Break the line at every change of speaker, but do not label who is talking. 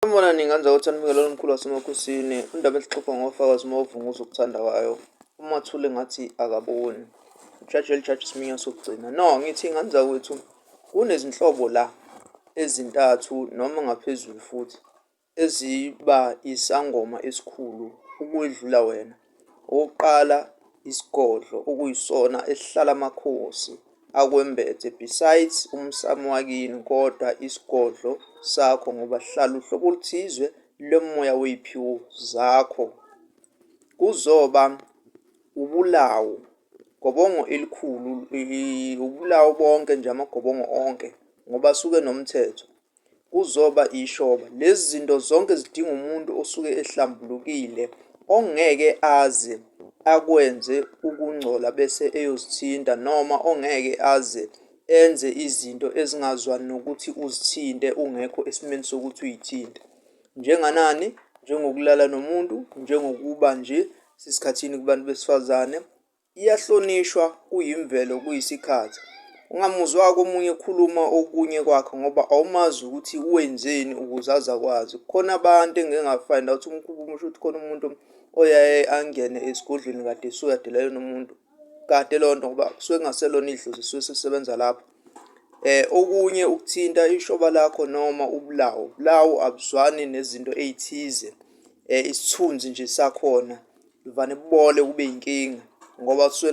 Umbona ningenza ukuthi anibikele omkhulu wasemakhosini indaba esixoxa ngofakazi uma uvunguza ukuthanda kwayo uma thule ngathi akaboni ujaji elijaji isiminyo sokugcina no ngithi ngenza kwethu kunezinhlobo la ezintathu noma ngaphezulu futhi eziba isangoma esikhulu ukwedlula wena Okokuqala isigodlo okuyisona esihlala amakhosi akwembethe besides umsamo wakini kodwa isigodlo sakho ngoba sihlala uhlobo oluthizwe lomoya wey'phiwo zakho. Kuzoba ubulawu, gobongo elikhulu ubulawu bonke nje amagobongo onke ngoba asuke enomthetho. kuzoba ishoba. Lezi zinto zonke zidinga umuntu osuke ehlambulukile ongeke aze akwenze ukungcola bese eyozithinta noma ongeke aze enze izinto ezingazwani nokuthi uzithinte ungekho esimeni sokuthi uyithinte. Njenganani? Njengokulala nomuntu, njengokuba nje sesikhathini kubantu besifazane, Iyahlonishwa kuyimvelo kuyisikhathi ungamuzwa komunye ekhuluma okunye kwakhe ngoba awumazi ukuthi wenzeni ukuze aze akwazi. Kukhona abantu engike ngafind out umkhuba omusha ukuthi khona umuntu oyaye angene esigodlweni kade suyadela lona muntu kade lonto ngoba kusuke kungaselona idlozi lisuke selisebenza lapho. okunye ukuthinta ishoba lakho noma ubulawu ubulawu abuzwani nezinto ey'thize isithunzi nje sakhona kuvane kubole kube yinkinga ngoba kusuke .